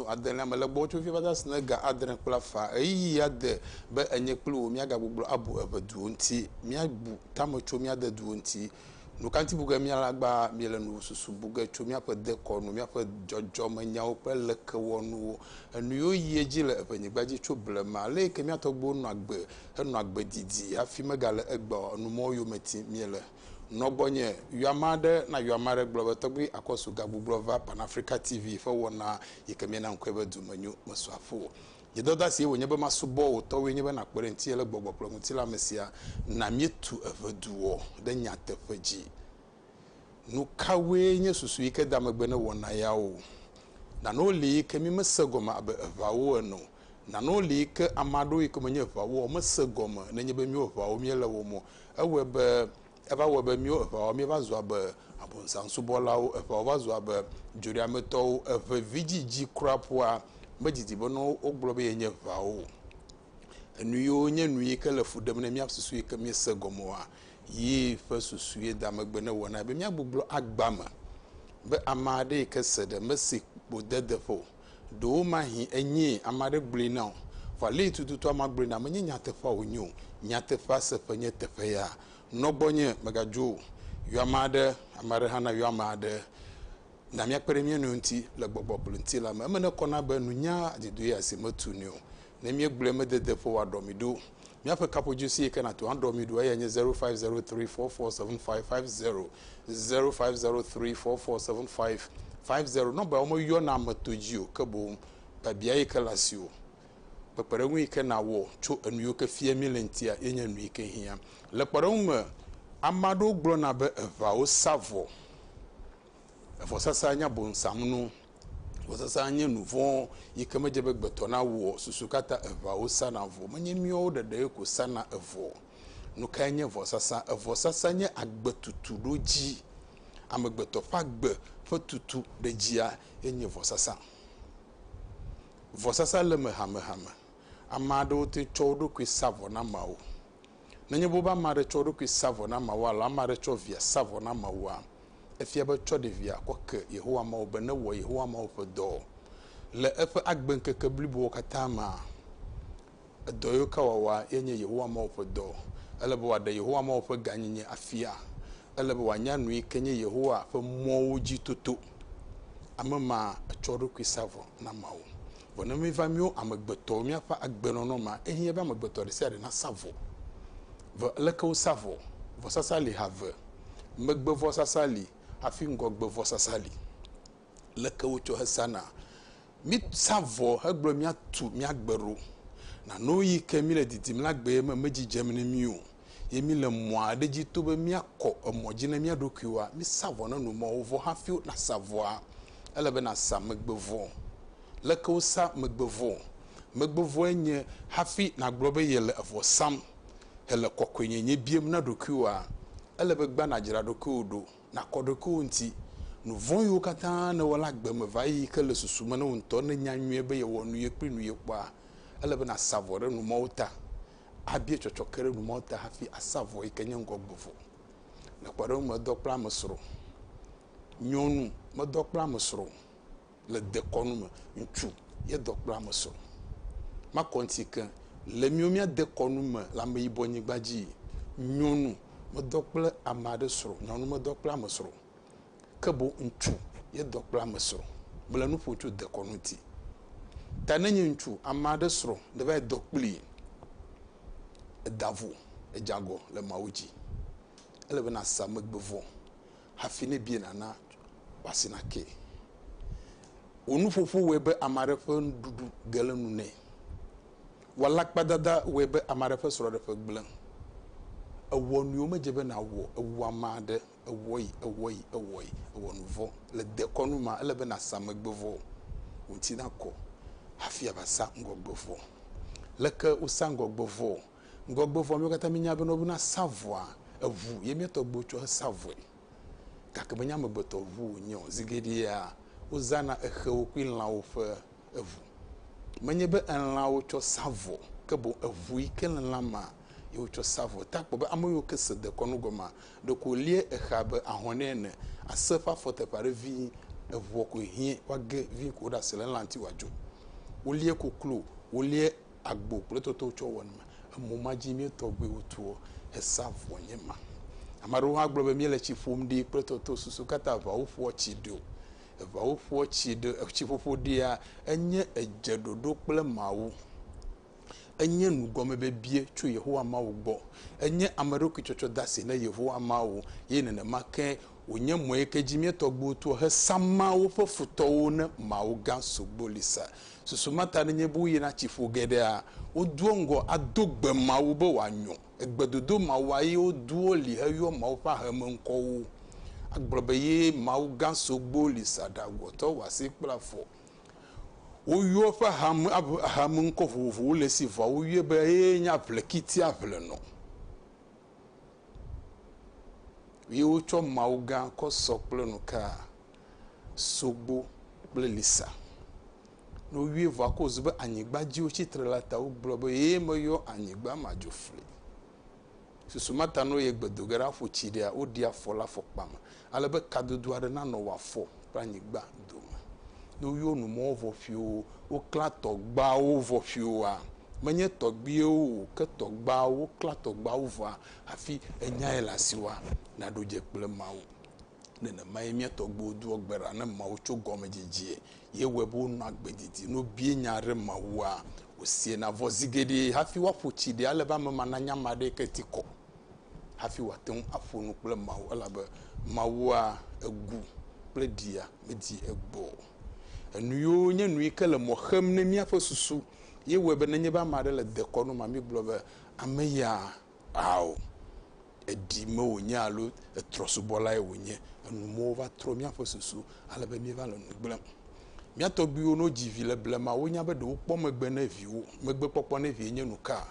Ƒomedo adelea me le gbɔwò tso fifia va se ɖe ga adre kple afã. Ɣeyiɣi ya de be enye kple wò míagagbugblu abu eʋe duwo ŋuti. Míabu tame tso mía de duwo ŋuti. Nukaŋuti bu ge míalé agba míele nu susu bu ge tso míaƒe dekɔnu, míaƒe dzɔdzɔmenyawo kple lekewɔnuwo, enuyiwo yi edzi le eʋenyigba dzi tso blema, aleyike mía tɔgbuiwo nɔ agbe henɔ agbe didi hafi megale egbea o, enumɔwo yome tim míele? Nɔ gbɔnye, yɔ ame aɖe na yɔ ame aɖe gblɔ be Tɔgbui Akɔsu gagbugbɔ va Pan Africa TV ƒe wɔna yi ke míena ŋkɔe be Domenyo mesu afɔ o. Nye dɔdasiye wònye be masubɔ wò tɔwoe nye be nàkpe ɖe ŋutinye le gbɔgbɔ kple ŋutilã me sia na míetu eŋeduɔ ɖe nyateƒe dzi. Nukawoe nye susu yi ke da megbe ne wɔna yawo? Nanewo li yi ke mímese gɔme abe eŋawo ene o. Nanewo li yi ke ame aɖewo yi ke menye eŋawo o mese gɔme nenye be míewo eŋawo míele wɔm o. Ewɔe be, eva wɔe be míwo eʋawo míeva zu abe abɔnsaŋsubɔlawo. Eʋawo va zu abe dzoɖeametɔwo. Eʋe vidzidzi kura ƒua medidi be ne wogblɔ be yenye eʋawo o. Enu yiwo nye nu yi ke le fu ɖem ne mía susu yi ke míese gɔmewoa, yi ƒe susue da megbe ne wɔnae be míagbugbɔ agba me be ame aɖe yi ke se ɖe mesi kpodedeƒe o. Ɖewomahi enyee ame aɖe gblɔe na wò. Vɔ alee tututu amea gblɔe na wò, menye nyateƒea wònye o. Nyateƒea seƒe nye teƒe ya. Nɔ gbɔnye, mègadzo o. Yɔ ame aɖe, ame aɖe hã nayɔ ame aɖe. Na míakpe ɖe mía nɔewo ŋuti le gbɔgbɔ kple ŋutilã me. Eme nekɔna be nunya adedoea si metunɛ o. Ne míegblɔe medede ƒo wòaɖɔ mi ɖo. Míaƒe kaƒodzi si yi ke nàto aɖɔ mi ɖo eyae nye zero five zero three four four seven five five zero zero five zero three four four seven five five zero. Nɔmba yawo meyɔna ame to dzi o ke boŋ biabia yi ke le asiwò. Kpekpeɖeŋu yi ke nàwɔ tso enu yiwo ke fia míele ŋutia ye nye nu yi ke hiã. Le kpɔɖeŋu me, ame aɖewo gblɔna be eŋawo sa vɔ. Vɔsasa nye abosam nu. Vɔsasa nye nu vɔ̃ yi ke medze be gbetɔ nawɔ o. Susu ka ta eŋawo sana vɔ? Menye míawo ɖeɖee ko sana evɔ o. Nu kae nye vɔsasa? Evɔsasa nye agbetutu ɖo dzi. Amegbetɔ ƒe agbe ƒe tutu ɖe dzia ye nye vɔsasa. Vɔsasa le eme hamehame. Ame aɖewo te tsɔ wo ɖokui sa vɔ na ameawo. Nenye be wobe ame aɖe tsɔ eɖokui sa vɔ na ameawo alo ame aɖe tsɔ via sa vɔ na ameawoa, efia be tsɔ ɖevia kɔ ke Yehowa Mawu be newɔ Yehowa Mawu ƒe dɔ. Le eƒe agbeŋkeke blibowo katã mea, edɔ yio ke wòawɔa ye nye Yehowa Mawu ƒe dɔ. Ele be wòaɖe Yehowa Mawu ƒe gãnyenye afia. Ele be wòanya nu yi ke nye Yehowa ƒe mɔwo dzi toto. ame ma etsɔ eɖokui sa vɔ na Mawu. Vɔ ne míva míwo amegbetɔwo míaƒe agbenɔnɔ ma, ehiã be amegbetɔ ɖe sia ɖe nasa vɔ. Vɔ leke wosa vɔ? Vɔsasa li ha eve. Megbevɔsasa li hafi ŋgɔgbevɔsasa li. Leke wotsɔ hesana? Mísa vɔ hegblɔ be míatu mía gbe ɖo. Nanewo yi ke míle didim la gbee me medzidzem na mí o, ye míle mɔ aɖe dzi to be míakɔ emɔ dzi na mía ɖokuiwoa? Mísa vɔ na numɔwo vɔ hafi nàsa vɔa? Ele be nàsa megbevɔ. Leke wosaa megbevɔ? Megbevɔe nye hafi nàgblɔ be yele evɔ sam hele kɔkɔenyenye biam na ɖokuiwòa. Ele be gbã nàdzra ɖokuiwò ɖo. Nàkɔ ɖokuiwò ŋuti. Nu vɔ̃wo katã nèwɔ la gbe me va yi, ke le susu me na wò ŋutɔ. Ne ènya nyuie be yewɔ nu ye kpli nu ye kpɔa, ele be nàsa vɔ ɖe nu mawo ta. Abia tsɔtsɔke ɖe nu mawo ta hafi àsa vɔ yi ke nye ŋgɔgbevɔ. Le kpɔɖeŋu me, edɔ kple ame srɔ̃. Nyɔnu, Medɔ kple ame srɔ̃ o. le dekɔnu me. Ŋutsu ye dɔ kpla me sɔ. Makɔ ŋuti ke le míwo mía dekɔnu me le ameyibɔ nyigba dzi. Nyɔnu medɔ kple ame aɖe srɔ̃. Nyɔnu medɔ kple ame srɔ̃. Ke boŋ ŋutsu ye dɔ kple ame srɔ̃. Mele nu ƒom tso dekɔnu ŋuti. Ta ne nye ŋutsu ame aɖe srɔ̃ ne va yi dɔ kpli, eda vo, edze agɔ le Mawu dzi. Ele be na sa megbe vɔ. hafi ne ebie nàna wòasi nakee. Wò nuƒoƒo wɔe be ame aɖe ƒe nuɖuɖu ge le nu nɛ. Wò alakpadada wɔe be ame aɖe ƒe srɔ̃ɖeƒe gblẽ. Èwɔ nu yi womedze be nàwɔ, èwu ame aɖe, èwɔ yi, èwɔ yi, èwɔ yi, èwɔ nu vɔ̃. Le dekɔnu mea, ele be nàsa megbe vɔ̃, wò ŋuti nakɔ hafi ava sa ŋgɔgbe vɔ̃. Leke wosaa ŋgɔgbe vɔ̃? Ŋgɔgbevɔa, míawo katã míenya be ne wobena sa vɔa, eŋu ye mía tɔgbuiwo tsɔ hesa vɔe. Gake menye amegbetɔ ŋu wònye o. Zi geɖea, wozãna exewo kple lãwo ƒe eŋu. Menye be elãwo tsɔ sa vɔ, ke boŋ eŋu yi ke le lã mea, ye wotsɔ sa vɔe. Te akpɔ be ame yiwo ke se dekɔnu gɔmea, ɖeko wòlie exea abe ahɔ̃ nɛ ene. Ase ƒe afɔteƒe aɖe vii, eŋua koe hiã, woage vii ko ɖe ase le elã ŋuti wòadzo. Wolie koklo, wolie agbo kple toto tsɔ wɔ numa. Emɔ ma dzi mía tɔgbuiwo toa esa vɔ nye ma. Ame aɖewo hã gblɔ be míele tsi ƒom ɖi kple toto susu katã. Eŋawo ƒoa tsi ɖi o. Eŋawo ƒoa tsi ɖi. Etsiƒoƒo ɖia enye edzeɖoɖo kple Mawu. Enye nugɔmebibia tso Yehowa Mawu gbɔ. Enye ameɖokuitsɔtsɔdasi na Yehowa Mawu eye nenema ke wònye mɔe ke dzi mía tɔgbuiwo toa hesa Mawu ƒe futɔwo ne Mawu gã sogboli sa. Susu ma ta nenye be woyina tsi ƒo geɖea, wodoa ŋgɔ ado gbe Mawu be wòanyo. Egbedodo mawua ye wodoa li heyɔa Mawu ƒe aheme ŋkɔwo. Agblɔ be ye Mawu gã sogboli sa ɖagɔtɔ wɔasi kple afɔ. Woyɔa eƒe ahame, ahame ŋkɔ vovovowo le esi vɔa woyɔe be eye nye aʋlekitia ʋlenɔ. Ye wotsɔ Mawu gã kɔ sɔ kple nu ka? Sogbo kple lisa. Ne woyɔe vɔ akɔ zu be anyigba dzi wotsi tre la ta wogblɔ be ye meyɔ anyigba ma dzo fli. Susu ma ta ne woyie gbedo ge ɖe aƒu tsi ɖea woɖi afɔ le afɔkpa me. Ale be kadodo aɖe nanɔ wò afɔ kple anyigba dome. Ne woyɔ nu mɔ vɔ̃fiwo, woklã tɔgbawo vɔ̃fiwoa? Menye tɔgbiwo o, ke tɔgbawo, woklã tɔgbawo vɔ̃a hafi enyae le asiwòa? Naɖo dze kple Mawu. Nenemae mía tɔgbuiwo doa gbe ɖa na Mawu tso gɔmedzedzea. Ye wɔe be wonɔa agbe didi. Ne wobia nya aɖe Mawua, wosiena vɔ zi geɖe hafi woaƒo tsi ɖe ale be ame ma nanya ame aɖe yi ke ti kɔ. hafi wòate ŋu aƒo nu kple Mawu, elabe Mawua egu kple ɖia medi egbɔ o. Enuyiwo nye nuyi ke le mɔ xem ne míaƒe susu ye wɔe be nenye be ame aɖe le dekɔnu ma, mígblɔ be ame ya ao, eɖi me wònye alo etrɔsubɔlae wònye. Enumewo va trɔ míaƒe susu ale be míeva le nu gblẽm. Mía tɔgbuiwo, ne wodzi vi le blema, wonya be ɖe wokpɔ megbe ne viwo. Megbekpɔkpɔ ne vie nye nuka?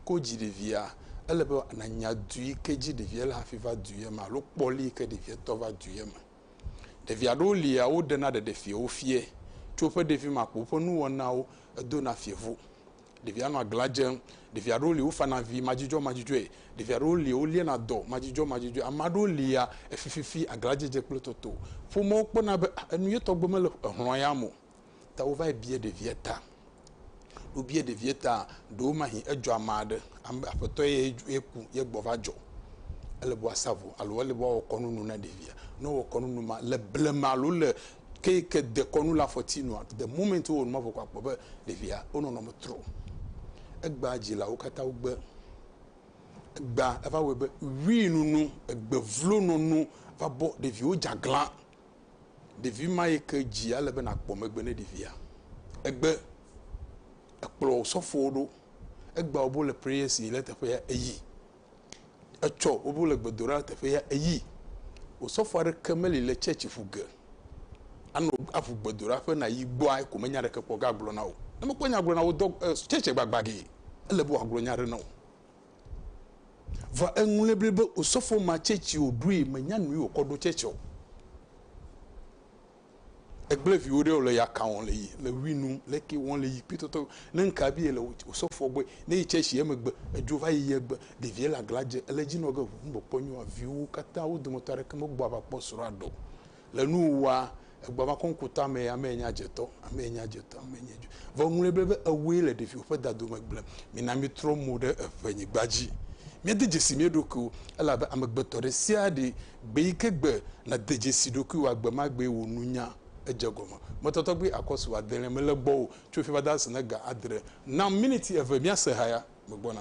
ke wodzi ɖevia, ele be nànya du yi ke dzi ɖevia le hafi va du ye me alo kpɔ li yi ke ɖevia tɔ va du ye me. Ɖevi aɖewo lia, woɖena ɖeɖefiawo fia tso woƒe ɖevime akpo woƒe nuwɔnawo, edona fievo. Ɖevia nɔa glã dzem. Ɖevi aɖewo li, wofana vi madzudzɔmadzudzɔe. Ɖevi aɖewo li, woliana dɔ madzudzɔmadzudzɔe. Ame aɖewo lia, efififi, aglãdzedze kple toto. Ƒomeawo kpɔna be enu ye tɔgbe mele hlɔ̃ yame o. Ta wova yi bia ɖevia ta. Wobia ɖevia ta, ɖewo mahi edzɔ ame aɖe, ame aƒetɔ ye eku ye gbɔ va dzɔ. Ele be woasa vo alo ele be woawɔ kɔnu nu na ɖevia. Ne wowɔ kɔnu nu ma le blema alo le ke yi ke de kɔnu le afɔti nua, the moment wowɔ nu ma vɔ ko akpɔ be ɖevia wo nɔnɔme trɔ. Egbea dzilawo katã wogbe. Egbea eva wɔe be ʋui nunu, egbe vlo nɔnu va bɔ ɖeviwo dze aglã. Ɖevi ma yi ke dzi ale be nàkpɔ megbe ne ɖevia. Egbe ekplɔ osɔfowo ɖo. Egba wobe wole prayer si le teƒe ya eyi. Etsɔ wobe wole gbedoɖa teƒe ya eyi. Osɔfo aɖeke meli le church ƒu ge anɔ aƒu gbedoɖa ƒe na yi gbɔa eko menya ɖeke kpɔ gagblɔ na wo. Ne mekpɔ nya gblɔ na wo dɔ eh, church gbagba gee. Ele be wòagblɔ nya ɖe na wo. Vɔ eŋlɔe bli be osɔfo ma tsɛtsi o ɖoe menya nui o kɔ ɖo tsɛtsi o. Egble viwo ɖe le ya ka wɔn le yi le wi nu le ke wɔn le yi kpi tɔtɔ ne nka bi le osɔfo gbɔ ne yi tsɛtsi ye megbe edzo va yi ye gbe ɖevia le agla dze ele dzi nɔ ge ŋu bɔ kpɔ nyoa viwo katã wo dometɔ aɖeke me gbɔ ava kpɔ srɔa ɖo. Le nuwuwua, egbɔa va kɔŋku tamee, amee nye adzetɔ, amee nye adzetɔ, amee nye Ju. Vɔ eŋlɔe be, be ewue le ɖeviwò ƒe dadome gblem. Mina mítrɔ mo ɖe eŋenyigba dzi. Míade dzesi mía ɖokuiwo, elabe amegbetɔ ɖe sia ɖe, gbe yi ke gbe, nade dzesi ɖokuiwoa, gbe ma gbee wò nunya edze egɔme. Mɔtatɔgbi akɔsu adelia mele gbɔ o, tso fifia va de ase na ga adre. Nam miniti eve míase haya, megbɔna.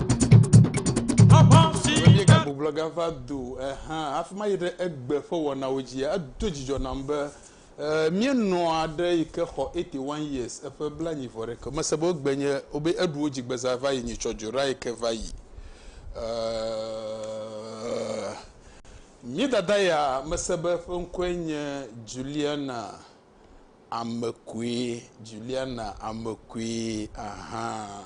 Míega gbublɔ ga va do ehã hafi ma yi ɖe egbe ƒe wɔnawo dzi. Edo dzidzɔ nam be eh, míenɔ aɖe yi ke xɔ 81 years eƒe blanyi vɔ ɖe ke. Mese be wogbe nye wobe eɖu wo dzi gbeza va yi nyi tsɔ dzo ɖa yi ke va yi. Eh, mí dada ya mese be eƒe ŋkɔe nye Juliana. Ame koe, Juliana, ame koe, aha.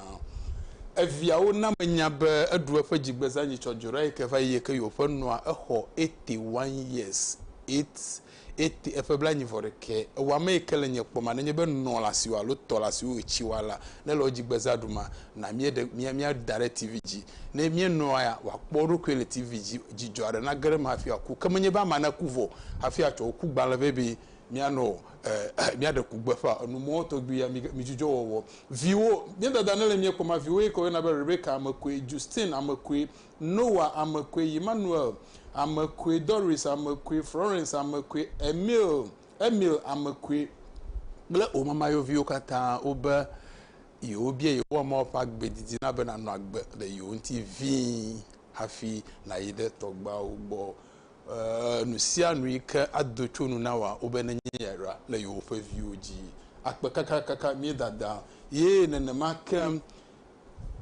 Eviawo na menya be eɖu eƒe dzigbezãnyitsɔ Jurai ke va yi eye ke yewoƒe nɔa exɔ eighty one years, eight, eighty, eƒe blanyivɔɖekɛ. Ewa ame yi ke le nye kpɔma nenye be nɔ le asiwò alo tɔ le asiwò etsi wa la, ne le wò dzigbezã ɖu ma, na míeɖe, mía, mía da ɖe TV dzi. Ne míenɔa ya, wòakpɔ eɖokui le TV dzi. Dzidzɔ aɖe nage ɖe eme hafi wòaku. Ke menye be amea naku vɔ hafi atsɔ wò ku gbalẽ vɛ be Míanɔ ɛɛ, míaɖe ku gbeƒã enu mɔ tɔgbi ya mi, mi dzudzɔ wɔwɔ. Viwo, mía dada ne le mía kpɔ ma, viwo yi ke wo yɔna be Rebecca ame koe, Justine ame koe, Noah ame koe, Emmanuel ame koe, Doris ame koe, Florence ame koe, Emil, Emil ame koe, kple wo mama yewo viwo katã wo be yewo bia Yehowa Mawu ƒe agbe didi na be nanɔ agbe le yewo ŋuti vĩi hafi nayi ɖe tɔgbeawo gbɔ. Ee, nu sia nu yi ke ado tso nu na wòa, wobe nenye ya ɖa, le yewoƒe viwo dzi akpe kakakaka. Mía dada ye nenema ke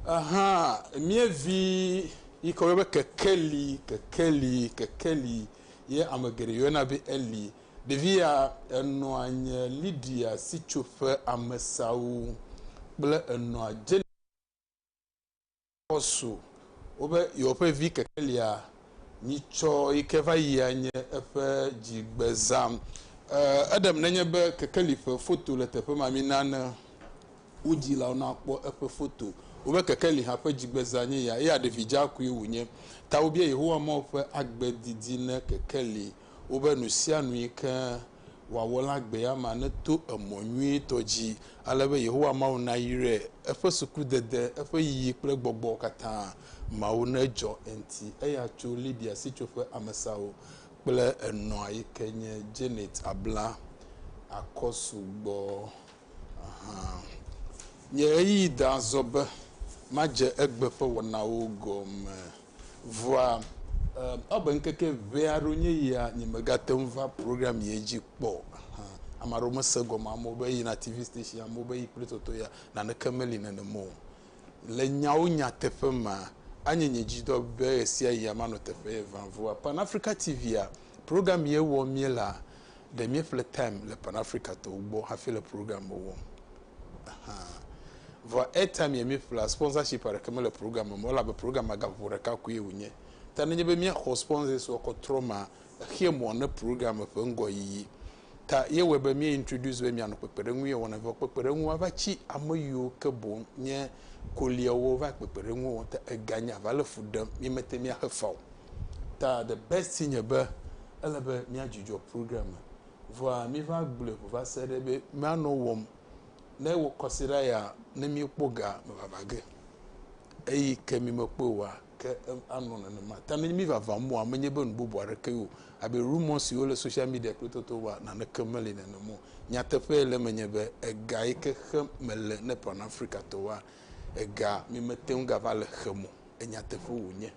hã, mía vi yi ke woyɔna be kekeli, kekeli, kekeli, ye ame geɖe yɔna be Eli. Ɖevi ya enɔa nye Lydia sitsoƒe amesawo kple enɔa dze. Aposu wo be yewoƒe vi kekelia nyitsɔ yi ke va yi anye eƒe dzigbezã. Eɖem nenye be kekeli ƒe foto le teƒe ma, mina ne wo dzilawo nakpɔ eƒe foto. Wo be kekeli hã ƒe dzigbezã nye ya, eye aɖevi dzakoe wònye. Ta wobia Yehowa Mawu ƒe agbe didi ne kekeli. Wo be nusianu yi ke wòawɔ la gbee amea neto emɔ nyuitɔ dzi ale be Yehowa Mawu nayrae, eƒe sukudede, eƒe yiyi kple gbɔgbɔ katã mawo nedzɔ enti eya tso Libya sitsoƒe amesawo kple enɔa yi ke nye Janet abla akɔ sugbɔ hã. Nye ɣeyiɣi da azɔ be madze egbe ƒe wɔnawo gɔme. Vɔa eh, ebe ŋkeke ʋɛ aɖewo nye yia nyemegate ŋu va program ye dzi kpɔ o. Hã, ame aɖewo mese gɔme, amewo be yina TV station, amewo be yi kple toto ya, naneke meli nenem o. Le nyawo nyateƒe mea, anye nye dzidɔ be ɣesiaɣia manɔ teƒe ye vam. Vɔa Pan Africa TV-a, program ye wɔm míelea, ɖe míeƒle time le Pan Africa tɔwo gbɔ hafi le program wɔm. Vɔ airtime ya míeƒlea, sponsorship aɖeke mele programme me o elabe programme gã ƒoƒo ɖeka koe wònye. Ta nenye be míaxɔ sponsors wa kɔ trɔmaa, exea mɔ ne programme ƒe ŋgɔyiyi. Ta ye wɔe be míe introduce be míanɔ kpekpeɖeŋuye wɔna vɔ kpekpeɖeŋu wava tsi ame yiwo ke boŋ nye koliawo wova kpekpeɖeŋuwo wɔm. Ta ega nye ava le fu ɖem míemete ŋui axe fa o. Ta the best nye be ele be míadzudzɔ programme. Vɔa míva gblɔe ƒo va se ɖe be míanɔ wɔm ne wò kɔsiɖa ya ne míekpɔ ga me vava ge. Eyi ke mi mekpɔe oa, ke anɔ nenema. Ta ne mívava mɔa, menye be nu bubu aɖeke o, abe rumor siwo le social media kple toto woa, naneke meli nenem o. Nyateƒee le eme nye be, ega yi ke xem mele ne Pan-Afrikatɔwoa, ega mi mete ŋu gava le xem o. Enyateƒe wònye.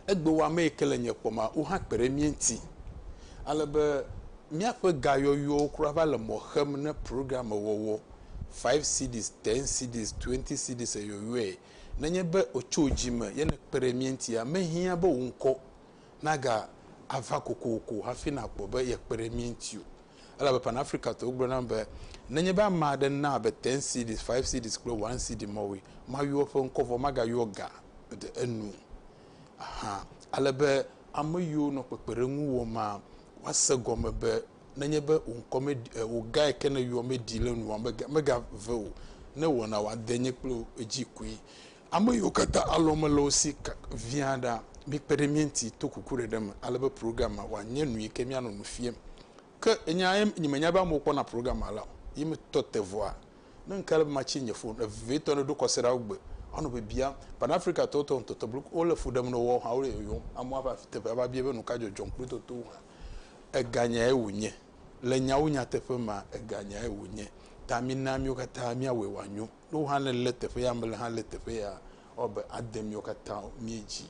Egbe wɔ ame yi ke le nye kpɔma, wohã kpe ɖe mía ŋuti. Ale be míaƒe gayɔyɔwo kura va le mɔ xem ne programme wɔwɔ, five cedis, ten cedis, twenty cedis eyɔyɔe. Nenye be ètso wò dzi me ye nèkpe ɖe mía ŋutia, mehiã be wò ŋkɔ nagava kokoko hafi nàkpɔ be yekpe ɖe mía ŋuti o. Elabe Pan-Afrikatɔwo gblɔ nam be, Nenye be ame aɖe na abe ten cedis, five cedis kple one cedi mɔwoe, mayɔ eƒe ŋkɔ vɔ magayɔ ga ɖe enu hã. Ale be ame yiwo nɔ kpekpeɖeŋu wɔma woase egɔme be nenye be wò ŋkɔ meɖi, e, wò gae ke nèyɔ meɖi le nuwò me, mega, megave o. Ne wɔna wòade nye kple wò dzi koe. Ame yiwo katã alɔme le wo si via ɖa, mikpe ɖe mía ŋuti to kukuɖeɖe me ale be programme wòanye nu yi ke míanɔ nu fiam. Ke nya ye nyemenya be amewo kpɔna programme la o. Ye metɔ te vɔa, ne ŋke ale be matsi nye fon vevitɔ ne ɖo kɔsiɖa wo gbe, anɔ bibiam. Pan-Afrikatɔwo tɔ ŋutɔtɔ blu wole fu ɖem ne woawo hã wole yɔyɔm. Amewo ava fi teƒe ava bia be nuka dzɔdzɔm kple totowo hã. Ega nyae wònye? Le nyawo nyateƒe mea, ega nyae wònye. Ta mina míwo katã míawɔe wòanyo. Ne wo hã ne le teƒe ya, mele hã le teƒe ya, ewɔ be ade miwo katã mie dzi.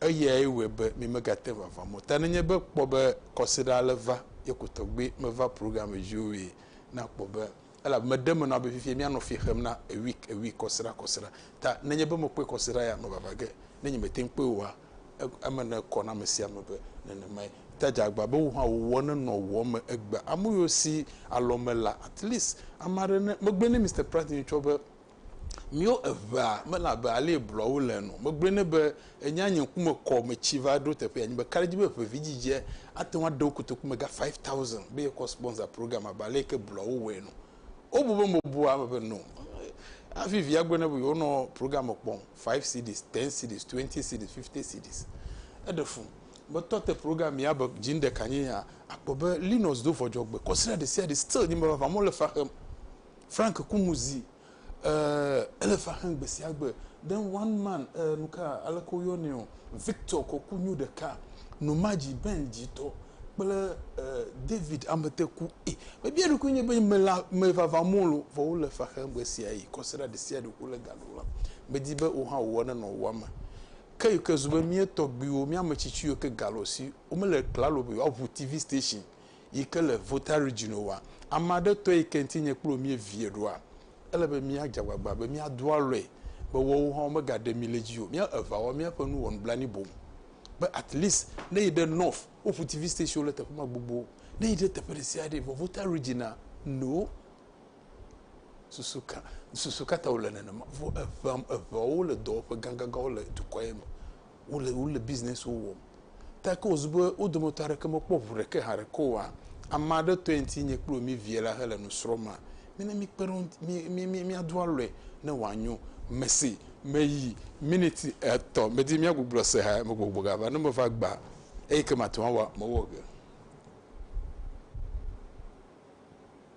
Eyae wɔe be mi megate ŋu ava mɔ ta. Nenye be kpɔ be kɔsiɖa ale va ye ko tɔgbe meva program dzi o ʋee, na kpɔ be elabe me ɖe me nɔa be fifia mia nɔ fi xem na a week a week kɔsiɖa kɔsiɖa ta. Nenye be me kpɔe kɔsiɖa ya me vava ge, ne nye me te ŋu kpɔe oa, Eme ne kɔ na amesiame be nenemae te dzeagba be wohã wowɔ ne nɔ wɔ me egbea amoyo si alɔ me la at least ame aɖe ne megblɔe ne Mister Pratt nye tsɔ be mio eŋea mele abe alie blɔ wo le ene o megblɔe ne be enya nye ŋkume kɔ metsi va ɖo teƒea nye be ka ɖe dzi be ŋe vi dzidzie ate ŋu aɖe wo kotoku me ga five thousand be ye kɔ sponsor program abe alie ke blɔ wo wɔe ene o wobu be mebua eme be no hafi via gblɔe ne be yewonɔ program kpɔm. five cedis, ten cedis, twenty cedis, fifty cedis. Eɖe fu be tɔ te program ya be dzi ŋɖe ka nye ya, akpɔ be Linus do vɔdzɔgbe kɔsrɛ ɖe sia ɖe still nye me vavã mole fa xem. Frank ku nu zi eh ele fa xem gbe sia gbe. Then one man eh nuka aleke wo yɔnɛ o Victor kɔ ku nyu ɖeka nu ma dzi Ben dzi tɔ kple eh David ame te ku eh me bia eɖokui nye be me la me vavã molo vɔ wole fa xem ɣe sia ɣi kɔsrɛ ɖe sia ɖe ku le ga. Wòlɔ̃. Medi be wò hã wò ene nɔ wò ame. Ke yi ke zu be mía tɔgbuiwo, mía ame tsitsi yiwo ke ga le wò si, womele klalo be yewoaŋu TV station yi ke le Volta Region oa, ame aɖe tɔe yi ke ŋuti nye kple wò míevie ɖoa? Ele be míadze agbagba be míado alɔe be woawo hã womegaɖe mí le edzi o. Mía evea wɔ míaƒe nu wɔ nublanui boŋ be at least ne yi ɖe North, woŋu TV stationwo le teƒe ma gbogbo. Ne yi ɖe teƒe ɖesiaɖee, vɔ Volta Region-a, no. Susu ka, susu ka ta wòle nenema? Vɔ eŋea, eŋeawo le dɔwɔƒe gãgãgãwo le dukɔa ye me. Wole, wole bisinɛsiwo wɔm. Ta ke wòzu be wo dometɔ aɖeke mekpɔ ŋu ɖeke hã ɖeke oa, ame aɖe tɔe ŋuti nye kple wò míevie la hele nu srɔ̃ma? Mina míkpe ɖe wo ŋuti, mí, mí, mí, míado alɔe ne wòanyo. Mese, meyi miniti etɔ̃ medi míagbugbɔ se ha me gbɔgbɔ gava. Ne meva gbea, eyi ke mate ŋu awɔ, mewɔ ge.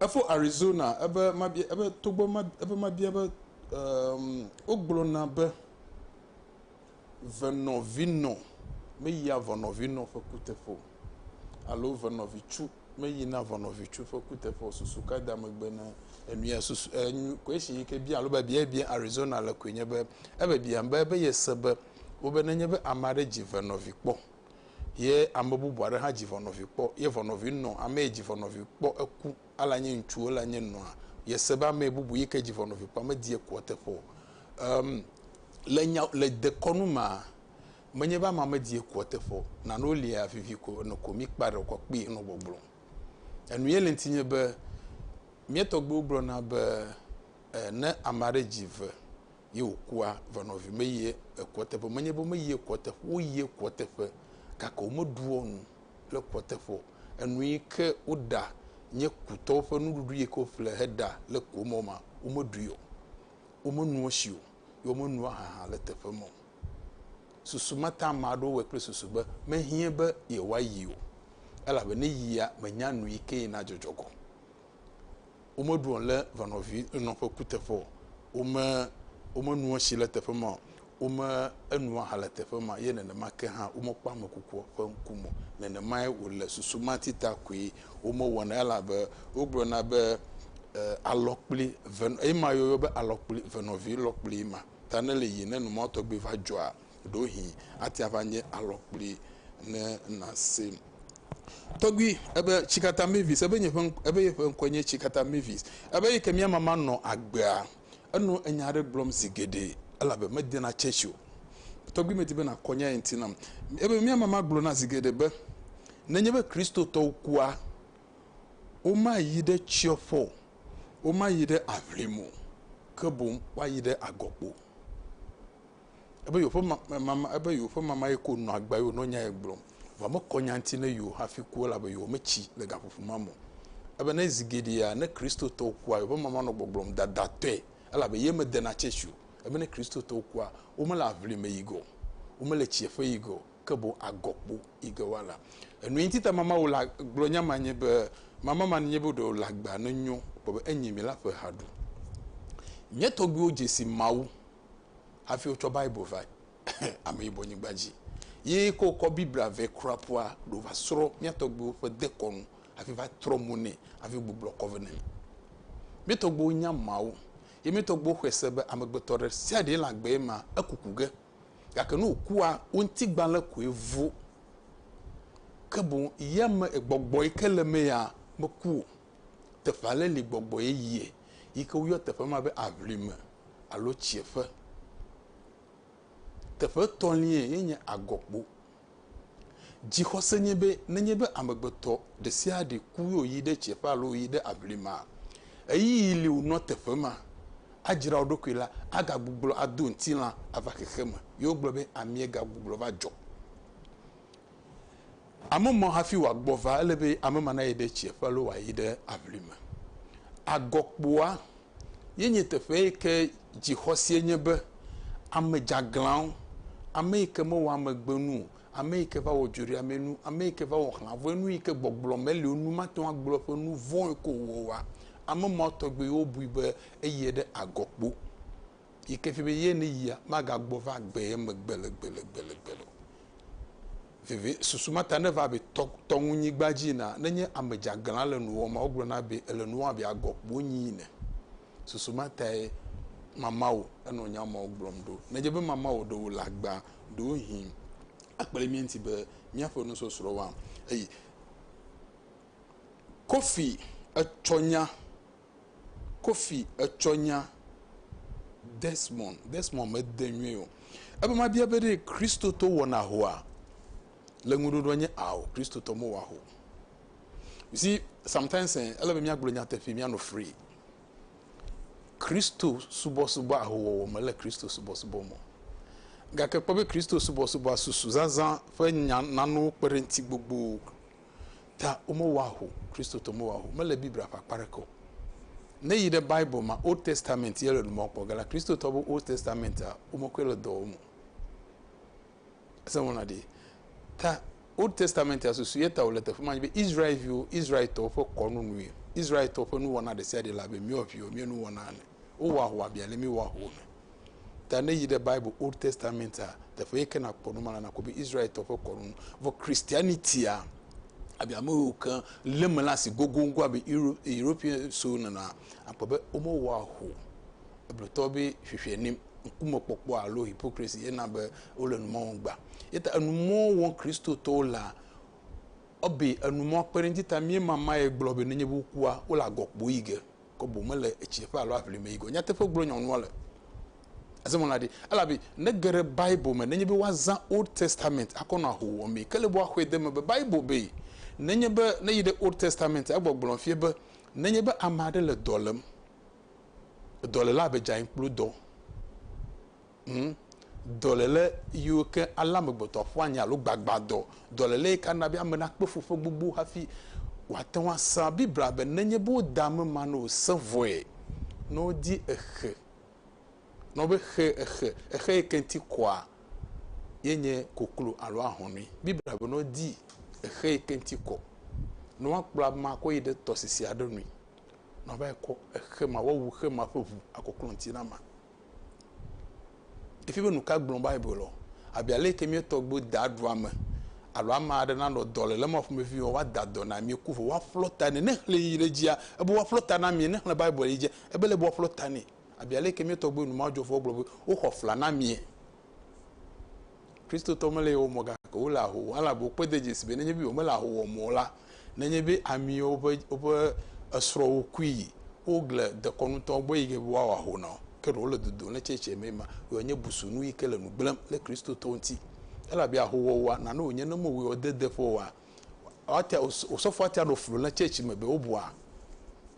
Efo Arizona ebe mabia ebe togbɔ ma ebe mabia be emm wogblɔna be venɔvinɔ meyia vɔnɔvinɔ ƒe kuteƒe o alo venɔvitsu meyina vɔnɔvitsu ƒe kuteƒe o. Susu ka da megbe na enuya susu enu kwesi yi ke bia alo biabia yi bia Arizona le koe nye be ebiabiam be ebe yese be wobe nenye be ame aɖe dzi venɔvi kpɔ. Ye ame bubu aɖe hã dzi ʋɔnɔvi kpɔ, ye ʋɔnɔvi nɔ ame yi dzi ʋɔnɔvi kpɔ eku, ale anyi ŋutsu ele anyi nɔa, ye se be ame bubu yi ke dzi ʋɔnɔvi kpɔ ame di ekua teƒe o. Em, le nya, le dekɔnu mea, menye be ame ame di ekua teƒe o. Nanewo lia vivi ko, ene ko mi kpa ɖe wokɔ kpi enɔ gbɔgblɔm. Enu ye le ŋuti nye be, mía tɔgbuiwo gblɔ na be, e, ne ame aɖe dzi ve, ye wòkua va nɔvi me yie ekua teƒe menye be me yie kua teƒe wo yie kua teƒe gake wo me ɖuɔ nu le kua teƒe enu yi ke wo ɖa nye kutɔwo ƒe nuɖuɖu yi ke wo ƒle he ɖa le kua me ma wo me ɖui o wo me nua si o ye wo me nua hã le teƒe me o susu ma ta ame aɖewo wɔ kple susu be me hie be yewoa yi o elabe ne yia me nya nu yi ke yi na dzɔdzɔ gɔm Womeɖuɔ le vanɔvi enɔ ƒe kuteƒe o. Wome, womenuɔ tsi le teƒe ma o. Wome enuɔ aha le teƒe ma o. Ye nenema ke hã womekpɔ ame kukua ƒe ŋku me o. Nenemae wòle susu ma ti ta koe womewɔna elabe wogblɔna be, E, alɔkpli ve, ema yɔyɔ be alɔkpli venɔvi lɔkpli ma. Ta ne le yiyim ne numɔtɔgbi va dzɔa, ɖewohĩ ate ava nye alɔkpui ne nàse. Tɔgbui, ebe Tsikata Mavis, ebe nye ƒe, ebe yeƒe ŋkɔe nye Tsikata Mavis, ebe eyi ke mía mama nɔ agbea, enɔ enya aɖe gblɔm zi geɖe elabe medena tsɛtsi o. Tɔgbui, medi be nàkɔ nya ye ŋuti nam. Ebe mía mama gblɔna zi geɖe be, nenye be Kristotɔwo kua, womayi ɖe tsiɔƒe o, womayi ɖe aʋlim o, ke boŋ woayi ɖe agɔkpo. Ebe yewo ƒe ma, mama, ebe yewo ƒe mama ye ko nɔ agbe eye wònɔ nyae gblɔm. Vɔ mekɔ nya ŋuti ne yewo hafi ku o, elabe yewo metsi le gaƒoƒo ma me o. Ebe ne zi geɖea, ne Kristotɔwo kua, yewo ƒe mama nɔ gbɔgblɔm dadatɔe, elabe ye medena tsɛtsi o. Ebe ne Kristotɔwo kua, womele aʋli me yi ge o, womele tsiẽƒe yi ge o, ke boŋ agɔkpo yi ge woala. Enue ŋuti ta mama wò la gblɔ nya ma nye be, mama ma nye be ɖe wòle agbea nenyo kpɔ be enye mi la ƒe ha ɖu. Mía tɔgbuiwo dze si Mawu hafi wotsɔ Bible va Ameyibɔ nyigba dzi. Ye ke wokɔ Biblia vɛ kura ƒua ɖo va srɔ̃ mía tɔgbuiwo ƒe dekɔnu hafi va trɔ mo nɛ hafi gbublɔ kɔ vɛ nɛ. Mía tɔgbuiwo nya Mawu ye mía tɔgbuiwo xɔe se be amegbetɔ ɖe sia ɖe le agbee ma eku ku ge. Gake ne wòkua, wo ŋutigbalẽ koe vo. Ke boŋ yame gbɔgbɔ yi ke le eme ya meku o. Teƒe aɖe li gbɔgbɔ yeye yi ke woyɔ teƒe ma be aʋlime alo tsieƒe. Teƒe etɔ̃liae ye nye agɔkpo. Dzixɔse nye be nenye be amegbetɔ ɖe sia ɖe ku ye wòyi ɖe tsieƒe alo wòyi ɖe aʋlimea, ɣeyiɣi li wònɔ teƒe ma adzra wo ɖokui la, agagbuglɔ ado ŋutilã ava xexeme. Ye wogblɔ be amiegagbuglɔ va dzɔ. Ame mɔ hafi wòagbɔ va, ele be ame ma nayi ɖe tsia ƒe alo wòayi ɖe aʋli me. Agɔkpoa ye nye teƒe yi ke dzixɔsie nye be ame dzeaglãwo, ame yi ke mewɔ amegbenu o, ame yi ke va wɔ dzoɖeamee nu, ame yi ke va wɔ xlãvɔe nu yi ke gbɔgblɔ meli o nu, mate ŋu agblɔ eƒe nu vɔ̃e ko wòwɔa, ame mawo tɔgbiwo bui be eyie ɖe agɔkpo. yi ke fia be ye ne yia, magagbɔ va gbe ye megbe le gbe le gbe le gbe le o. Veve, susu ma ta ne va be tɔ, tɔ ŋu nyigba dzi na, ne nye ame dzeaglã le nu wɔm ma, wogblɔ na be ele nu wɔm abe agɔ kpo nyi ene. Susu ma tae mamawo enɔ nya mawo gblɔm ɖo. Ne dze be mamawo ɖewo le agba, ɖewo hĩ akple mía ŋuti be míaƒe nusɔsrɔ̃ wa. Eye Kofi etsɔ nya. Kofi etsɔ nya Desmond, Desmond mede nyuie o. Ebe mabia be ɖe Kristotɔ wɔna ahoa? Le ŋuɖoɖoa nye ao, Kristotɔ mewɔ aho. You see, sometimes eh, ele be míagblɔ nyateƒe, míanɔ free. Kristo subɔsubɔ ahowɔwɔ me le Kristo subɔsubɔ me. Gake kpɔ be Kristo subɔsubɔa susu zazã ƒe nya nanewo kpe ɖe ŋuti gbogbo. ta womewɔa ho Kristotɔ mewɔa ho mele Biblia ƒe akpa aɖeke o. Ne yi ɖe Bible ma Old Testament ye le nu mɔ kpɔ gala Kristotɔ be Old Testament a womekɔe le dɔ wɔm o. Esewɔna ɖi ta Old Testament a susu ye ta wòle teƒe ma be Israelviwo Israeltɔwo ƒe kɔnu nue Israeltɔwo ƒe nuwɔna ɖe sia ɖe le abe míawo viwo mía nuwɔna ene. Wowɔ ahwa bia le mi wɔ ahwa me. Ta ne yi ɖe Bible Old Testament a, teƒe yi ke nakpɔ nu ma le nakpɔ be Israeltɔ ƒe kɔnu nu. Vɔ Christianity a abi ame yiwo ke lé me la asi gogoŋgo abe Euro, European so nena akpɔ be womewɔ ahwa o. Eblotɔ be hwehwɛ nim ŋkumekpɔkpɔ alo hypocrisy ye na be wole nu ma wɔm gbã. Ye ta enu ma wɔm Kristotɔwo lea, ebe enu ma kpe ɖe eŋuti ta míema ma ye gblɔ be nenye be wokua, wole agɔ kpoyi ge. Kɔ boŋ mele etsiɖeƒe alo aʋlime yi gɔ̃. Nyateƒe gblɔ nyɔnua le ezemɔla ɖi. Elabe ne ge ɖe Bible me, nenye be woazã Old Testament akɔ nɔ ahowuwɔ mee. Ke le be woaxɔe de eme be Bible bee, nenye be ne yi ɖe Old Testament egbɔ gblɔ fiae be nenye be ame aɖe le dɔ lem, edɔlelaa be dzae kplu dɔ. Ŋ, dɔléle yiwo ke alé amegbetɔ ƒua nye alo gbagbãdɔ, dɔléle yi ke ana be ame nakpɔ fu ƒe gbogbo hafi wòate ŋu ase Biblia be nenye be wode ame ma ne wòse vɔe, ne wodi exe, ne wobe xe, exe, exe yi ke ŋuti kɔa, ye nye koklo alo ahɔnui. Biblia be ne wodi exe yi ke ŋuti kɔ, ne woakplɔ amea akɔ yi ɖe tɔsisi aɖe nui, ne woava yi kɔ exe ma, woawu xe ma ƒe ʋu akɔklɔ ŋuti na amea. Efia be nu ka gblɔm Biblia? Abe ale ke mía tɔgbuiwo daa ɖua ame alo ame aɖe nanɔ dɔléle ma ƒomevie be woada dɔ na mí ku vɔ woaƒlɔ ta nɛ. Ne xlẽe yi ɖe edzia, ebe woaƒlɔ ta na mí. Ne xlẽ Biblia yi edzia, ebe ele be woaƒlɔ ta nɛ. Abe ale ke mía tɔgbuiwo, nu ma dzɔ vɔ wogblɔ be woxɔ fla na mí. Kristotɔ mele yewo mɔ gake wole aho wɔm. Ale abe wokpɔe de dzesi be nenye be womele aho wɔm o la, nenye be amiwo ƒe woƒe esrɔ̃wo kui, wogle dekɔnutɔwo gbɔ yi ke be woawɔ aho na wo. Ke ɖewo le dodom le tsɛtsɛ me ma ye wòanye busunu yi ke le nu gblẽm ɖe Kristotɔwo ŋuti. Elabe ahowɔwɔa, nane wònye ne mewɔe o, dedeƒe oa, Woatia osɔfoa tia ɖo flu le tsɛtsi me be wobua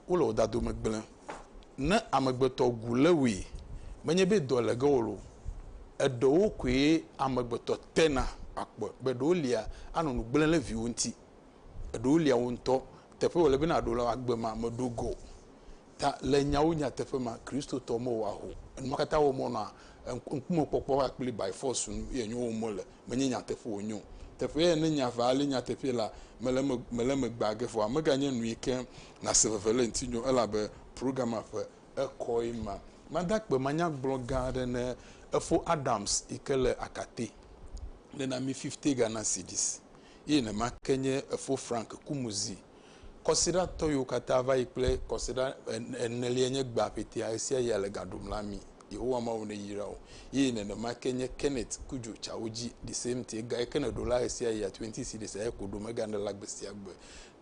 wole wò dado me gblẽ. Ne amegbetɔ gu le wòe menye be dɔ le ge wòlo. Eɖewo koe amegbetɔ tena akpɔ be ɖewo lia anɔ nu gblẽ le viwo ŋuti. Eɖewo lia wò ŋutɔ teƒe wòle be nàɖo le agbe ma meɖo go. Ta le nyawo nyateƒe ma Kristotɔ mo wa ho. Enuma kata wo mo na ŋkume kpɔkpɔ wa kpli by force nu ye nyo wo mo le me nye nyateƒe wo nyo. Teƒe ye ne nya va le nyateƒe la me le me me le me gba ge vɔa me ga nye nu yi ke na se veve le ŋti nyo elabe progama ƒe ekɔ ye ma. Ma da kpe manya gblɔ ga aɖe ne efo Adams yi ke le akate le na mi fifte ga na Sidis ye ne ma ke nye efo Frank Kumuzi Kɔsiɖatɔ yiwo katã va yi kple kɔsiɖa enelia nye gbea ƒetea, ɣesiaɣia le ga ɖom na mí. Yehowa Mawu neyra wò. Eye nenema ke nye Kenneth Cudjoe tsa wo dzi, the same thing, ga yike nèɖo la ɣesiaɣia, twenty cedis eya ko ɖo, mègana la gbesiagbe.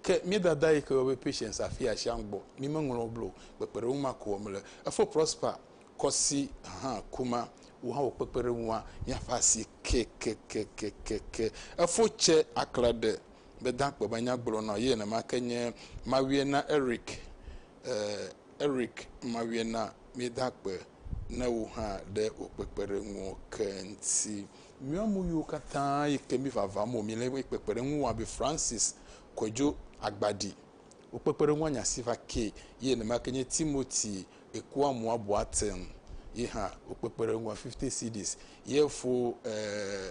Ke mía dada yike yɔ be Patience afia asiaŋ gbɔ, mí meŋlɔ blo o, kpekpeɖeŋu ma ko wɔm le. Efo Prosper kɔsi hã kuma, wò hã wò kpekpeɖeŋua nye ƒe asi kekekekekeke. Efo tse aklaɖe Meda akpe be anyagblɔ nɔ ye nenema ke nye Mawiena Eric. Ee, Eric Mawiena, meda akpe ne wò hã ɖe wò kpekpeɖeŋuwo ke ŋuti. Míawo ame yiwo katã yi ke mi vava mo, mi le eƒe kpekpeɖeŋu wɔm abe Francis Kojo Agbadi. Wò kpekpeɖeŋua nya si va ke. Ye nenema ke nye Timothy Ekuamua Boateng. Ye hã wò kpekpeɖeŋua fifty cedis. Ye fo ee,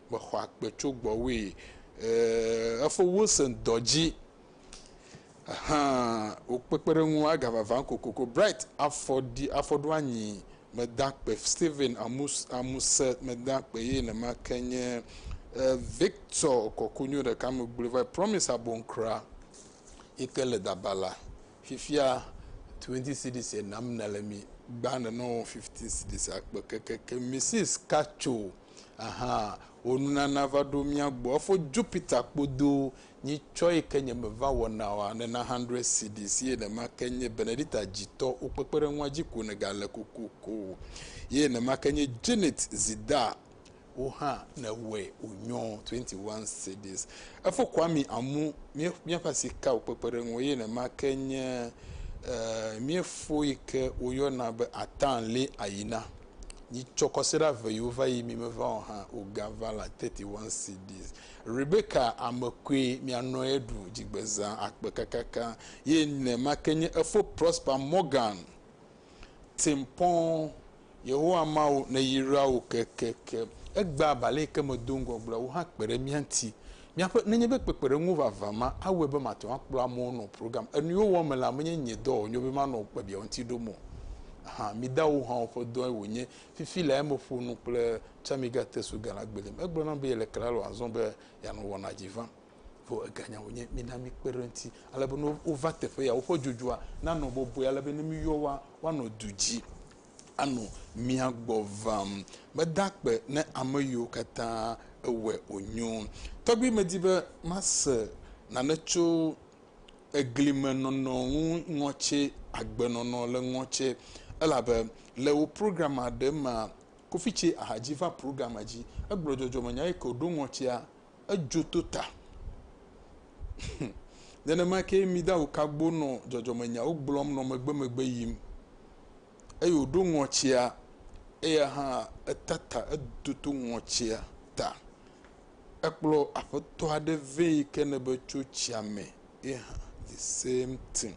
Me xɔ akpe tso gbɔwòe. Eeeeee, efo wo se ŋdɔ dzi. Ahaa, wo kpekpeɖeŋu aga vava kokoko. Bright afɔ ɖi, afɔ ɖo anyi me da kpe. Steven amu, amu se me da kpe ye nema ke nye. E, Victor kɔ konyo ɖeka me gblɔe va yi. Promise abonkra yi ke le dabala. Fifia twenty cedis ye nam nele mi. Gbã nenɔ fifteen cedis akpe kekeke. Mrs. Katso. Aha wò nunana va ɖo mía gbɔ efo Jupiter kpodo nyi tsɔ yi ke nye me va wɔna wa nena hundred cedis ye nema ke nye Benedita dzitɔ wo kpekpeɖeŋua dzi ko nega le kokoko ye nema ke nye Janet zida wo hã ne wɛ o nyɔ twenty one cedis efo Kwame amu mie mia fa sika wo kpekpeɖeŋua ye nema ke nye eh, mie fo yi ke wo yɔ na be atan le ayina Yi tsɔ kɔsiɖa ve yiwo va yi mi meva o hã o ga va la thirty one cedis. Rebeka ame koe mi anɔ ye ɖu dzigbeza akpe kakaka ye ne ma ke nye efo prosper Morgan tim pɔn Yehowa Mawu ne yi ra wo kekeke egba balɛ ke me do ŋgɔ gblɔ wo hã kpe ɖe mia ŋti Miaƒe, nenye be kpekpeɖeŋuwo vavã ma awɔe be mate ŋu akplɔ amewo nɔ program enuiwo wɔm me la, menye nye dɔ wònyo be manɔ kpebia ŋuti ɖom o hã. Midawo hã ƒe dɔe wònye. Fifi lae meƒo nu kple Chamiga Tesu Gala Gbelim. Egblɔ nam be yele Klalo azɔ be yeanɔ wɔna dzi vam. Vɔ eganya wònye. Mina mikpe ɖe eŋuti ale be ne wova teƒe ya, woƒe dzodzua nanɔ bɔbɔe ale be ne míyɔ woa, woanɔ du dzi. anɔ mia gbɔ vam. Meda akpe ne ame yiwo katã ewɔe wònyo. Tɔgbi medi be mase nane tso egli me nɔnɔ ŋu ŋɔtse agbenɔnɔ le ŋɔtse elabe le wò programme ɖe mea, Kofi tse ahadzi va programme dzi. Egblɔ dzɔdzɔme nya eke wòɖo ŋɔtsea. edzo to ta. Nenema ke Midaho Kagbo nɔ dzɔdzɔmenyawo gblɔm nɔ megbemegbe yim eye wòɖo ŋɔtsia, eya hã eta ta, etoto ŋɔtsia ta. Ekplɔ aƒetɔ aɖe vɛ yi ke ne be tso tsia me ye hã the same thing.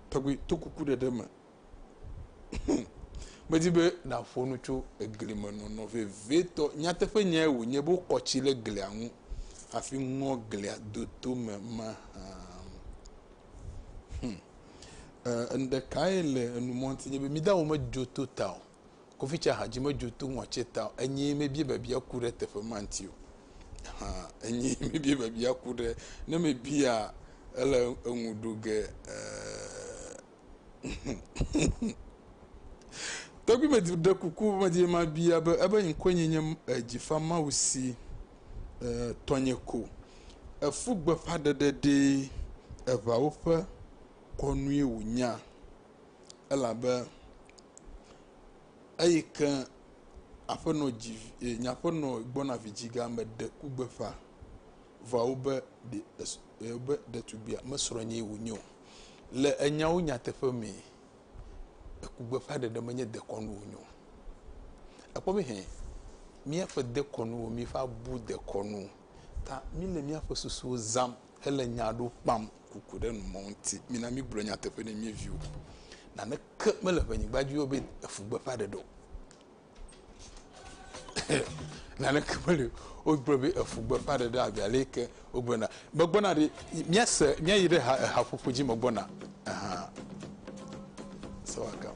Tɔgbi to kuku ɖeɖe me. Medi be nàƒo nu tso egli me nɔnɔ vevitɔ. Nyateƒe nyae wònye be wokɔ tsi ɖe glia ŋu hafi ŋɔ glia do tome mahã. Hmm. Enu ɖekae le enumɔti nye be midawo medzo to ta o. Kofitsa hadzi medzo to ŋɔtsi ta o. Enyi mebie bebia ku ɖe teƒe ma ŋuti o. Hã, enyi mebie bebia ku ɖe. Ne mebia ele eŋu ɖo ge. Ee. Tɔgbui me ɖe kuku medi be mabia be ebe ŋkɔe nye nye Dzifamawusi ee tɔnye ko. Efu gbeƒãɖeɖe ɖee eŋawo ƒe kɔnue wònya elabe eyi ke aƒenɔ dzi ee nye aƒenɔ gbɔna vidzigea meɖe ku gbeƒã vɔ abe ɖe es… Eye be ɖetugbia mesrɔ̃ nyee wònye o. Le enyawo nyateƒe mee, eku gbeƒã ɖeɖe menye dekɔnu wònye o. Ekpɔ be hɛn, míaƒe dekɔnuwo, míeƒe abu dekɔnuwo ta míle míaƒe susuwo zãm hele nya aɖewo kpam ku ko ɖe nu mɔ ŋuti. Mina mígblɔ nyateƒe na mía viwo. Naneke mele ʋe nyigba dzi o be efu gbeƒã ɖeɖe o. naneke meli o. Wogblɔ be efu gbeƒãɖeɖe abe ale yi ke wogblɔna, megbɔna ɖi, míase, míayi ɖe ha, ehaƒoƒo dzi megbɔna. Ahan. So I come.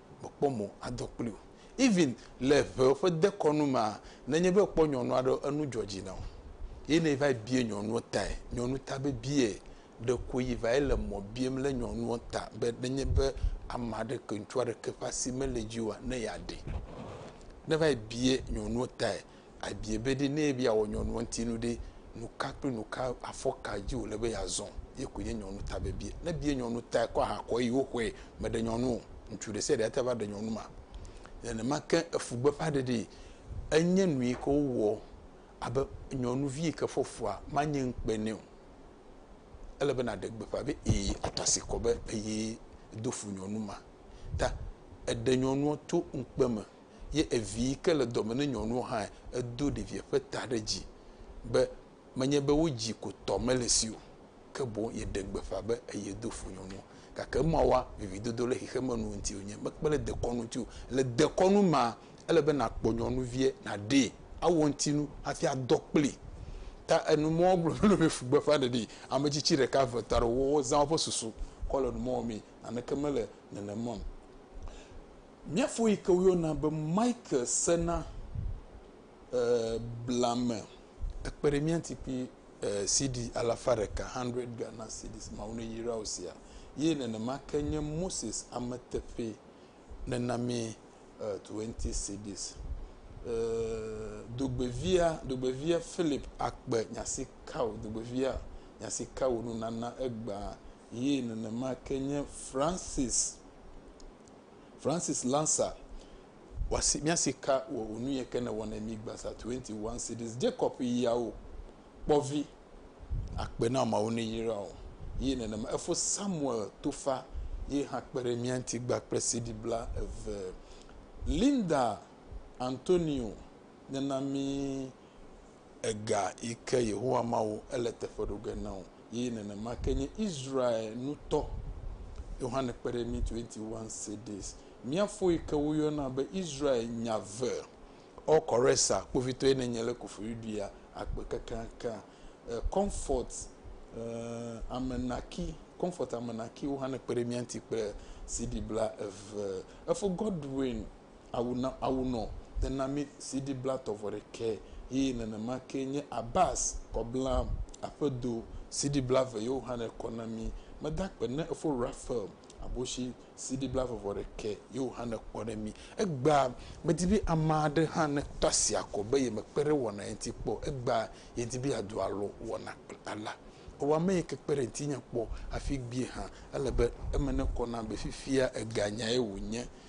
mekpɔ mo adɔ kpli o. Even le ŋewo ƒe dekɔnu mea, ne enye be èkpɔ nyɔnu aɖe, enu dzɔ dzi na wò. Ye ne va yi bia nyɔnua tae, nyɔnu ta be biae, ɖeko yi va yi le mɔ biam le nyɔnua ta be ne enye be ame aɖe ke, ŋutsu aɖe ke ƒe asi mele edzi oa, ne yeaɖee. Ne va yi bia nyɔnua tae, Ebie be ɖe ne ebe yeawɔ nyɔnua ŋuti nu ɖe, nu ka kple nu ka afɔ ka dzi wòle be yeazɔ? Ye koe nye nyɔnu ta vevie. Ne ebie nyɔnu ta ekɔ aha kɔ eye woxɔe meɖe nyɔnu o. Ŋutsu ɖe sia ɖe ate va ɖe nyɔnu ma. Nenema ke efu gbeƒã ɖeɖi enye nu yi ke wowɔ abe nyɔnuvi yi ke fɔ fua manye ŋukpe nɛ o. Ele be nàɖe gbeƒã be ee atu asi kɔ be eye do fu nyɔnu ma. Ta eɖe nyɔnua to ŋukpe me. ye evi yi ke le dɔme ne nyɔnuɔ hãe, edo ɖeviɛ ƒe ta ɖe dzi be, Menye be wodzi ko tɔ mele si o, ke boŋ yeɖe gbeƒã be eye do fo nyɔnuɔ. Gake emawoa, vividodo le xexemenu ŋuti wònye, mekpe le dekɔnu ŋuti o. Le dekɔnu mea, ele be nàkpɔ nyɔnuviɛ, nàɖee, awɔ eŋuti nu hafi adɔ kplii. Ta enumɔwoa gblɔ mí be ƒu gbeƒã ɖeɖi, ametsitsi ɖeka, eve, etɔ̃ aɖewo, wozã woƒe susu kɔ le numɔ wɔmee. Naneke mele nenema o. Mía fo yi ke woyɔna be Michael sena blame. Ekpe ɖe mía ŋuti kple CD alafa ɖeka, 100 Ghana cedis, Mawu neyra wò sia, ye nenema ke nye Moses ame teƒee nena mí 20 cedis. Dogbevia, dogbevia Philip Akpe, nya si ka wò, dogbevia, nya si ka wò nunana egbea, ye nenema ke nye Francis Francis Lancer wasi miasi ka wɔ onu yɛ ke ne wɔnɛ mi gbasa 21 cities Jacob yiawo kpɔvi akpe na mawo ne yira o yi nenema efo Samuel tofa yi ha kpe ɖe mia ŋuti gba kple CD bla eve Linda Antonio nena mi Ega yi ke Yehowa Mawu ele teƒe ɖo ge na wò, eye nenema ke nye Israel nutɔ. Yohane kpe ɖe mí 21 cedis. Mía fo yi ke woyɔna be Israel nya ve. Ɔ Kɔresa, kpovitɔe nenye le Koforidua akpe kekeakea. E, Comfort e, Amenaki, Comfort Amenaki, Yohane kpe ɖe mía ŋuti kple CD bla eve. Efo Godwin Awu na awu nɔ tena mí CD blatɔ vɔ ɖekɛ yí nenema ke nye Abbas kɔ bla aƒe do CD blave yo hannɛ kɔ na mí. Meda kpe ne efo Raphael Aboshi CD blave vɔ ɖekɛ yo hannɛ kɔ ɖe mí. Egbea medi be ame aɖe hã neto asi akɔ be yemekpe ɖe wɔna ye ŋuti kpɔ o. Egbea yedi be yeado alo wɔna kple Ala. Ewa ame yi ke kpe ɖe ŋutinye kpɔ hafi gbie hã. Ele be eme nekɔ nam be fifia eganyae wònye